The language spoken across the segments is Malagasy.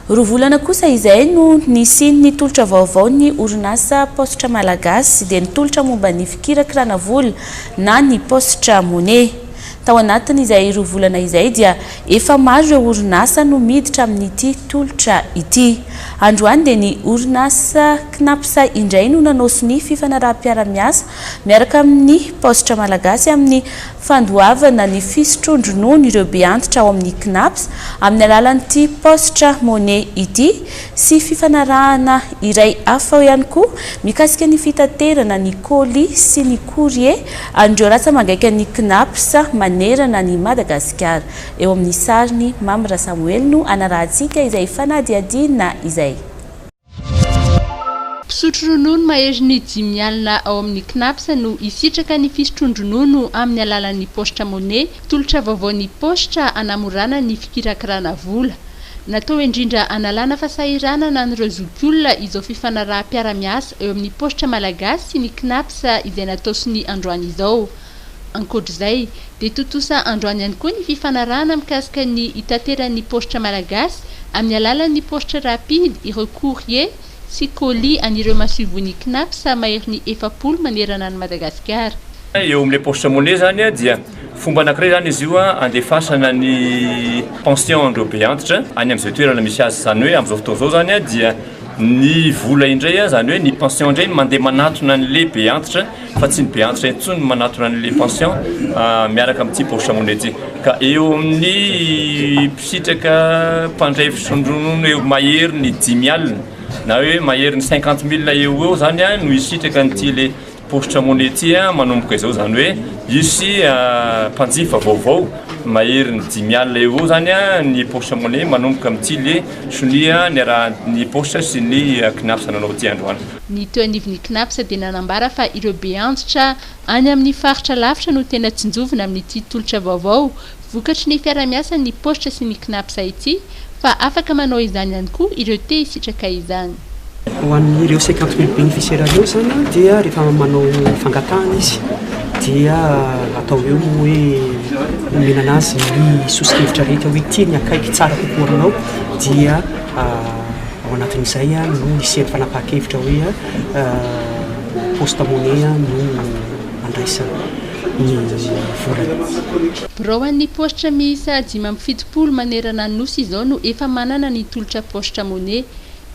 Roa volana kosa izay no nisian'ny tolotra vaovao ny orinasa Paositra Malagasy dia ny tolotra momba ny fikirakirana vola na ny Paositra Money. Tao anatin'izay roa volana izay dia efa maro ireo orinasa no miditra amin'ity tolotra ity. Androany dia ny orinasa Cnaps indray no nanao sonia fifanaraham-piaramiasa miaraka amin'ny paositra malagasy amin'ny fandoavana ny fisotroan-dronono ireo beantitra ao amin'ny Cnaps amin'ny alalan'ity paositra Money ity sy fifanarahana iray hafa ihany koa mikasika ny fitaterana ny colis sy ny courrier an'ireo ratsa-mangaika ny Cnaps manerana an'i Madagasikara. Eo amin'ny sariny, Mamy Rasamoelino anarahantsika izay fanadihadiana izay. Mpisotro ronono maherin'ny dimy alina ao amin'ny Cnaps no hisitraka ny fisotroan-dronono amin'ny alalan'ny paositra money, tolotra vaovaon'ny paositra hanamorana ny fikirakirana vola. Natao indrindra hanalana fasahiranana an'ireo zokiolona izao fifanaraham-piaramiasa eo amin'ny paositra malagasy sy ny Cnaps izay natao sonia androany izao. Ankoatra izay, dia tontosa androany ihany koa ny fifanarahana mikasika ny hitateran'ny paositra malagasy amin'ny alalan'ny paositra rapide ireo courrier sy colis an'ireo masoivohon'ny Cnaps maherin'ny efapolo manerana an'i Madagasikara. Eo amin'ilay paositra money izany dia fomba anankiray izany izy io handefasana ny pension-n'ireo beantitra any amin'izay toerana misy azy. Izany hoe amin'izao fotoana izao izany dia ny vola indray, izany hoe ny pension indray no mandeha manatona an'ilay beantitra. fa tsy ny be antitra intsony no manatona ny les pensions miaraka amin'ny tsy poche monnaie ka eo amin'ny mpisitraka mpandray fisondronona eo mahery ny dimy alina na hoe mahery ny cinquante mille eo eo zany a no hisitraka an'ity le poche monnaie ity a manomboka izao zany hoe hisy mpanjifa vaovao mahery ny dimy alina eo eo zany a ny poche monnaie manomboka amin'ity le sonia niarahan'ny poche sy ny CNAPS nanao ity androany Ny teo anivon'ny Cnaps dia nanambara fa ireo beantitra any amin'ny faritra lavitra no tena tsinjovina amin'ity tolotra vaovao vokatry ny fiarahamiasan'ny paositra sy ny Cnaps ity fa afaka manao izany ihany koa ireo te hisitraka izany. Ho an'ireo cinquante mille bénéficiaires ireo izany dia rehefa manao fangatahana izy dia atao eo ny hoe omena anazy ny sosokevitra rehetra hoe ity ny akaiky tsara kokoa aminao dia Ao anatin'izay no hisian'ny fanapahan-kevitra hoe poste monnaie no handraisana ny vola. Birao an'ny paositra miisa dimy amby fitopolo manerana ny Nosy izao no efa manana ny tolotra paositra monnaie.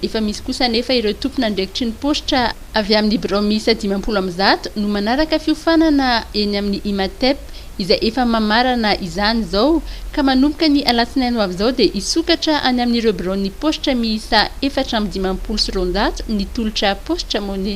Efa misy kosa anefa ireo tompon'andraikitry ny paositra. Avy amin'ny birao miisa dimampolo amby zato no manaraka fiofanana eny amin'ny Imatep izay efa mamarana izany izao ka manomboka ny alatsinainy ho avy izao dia hisokatra any amin'ireo biraon'ny paositra miisa efatra amby dimampolo sy roanjato ny tolotra Postramone.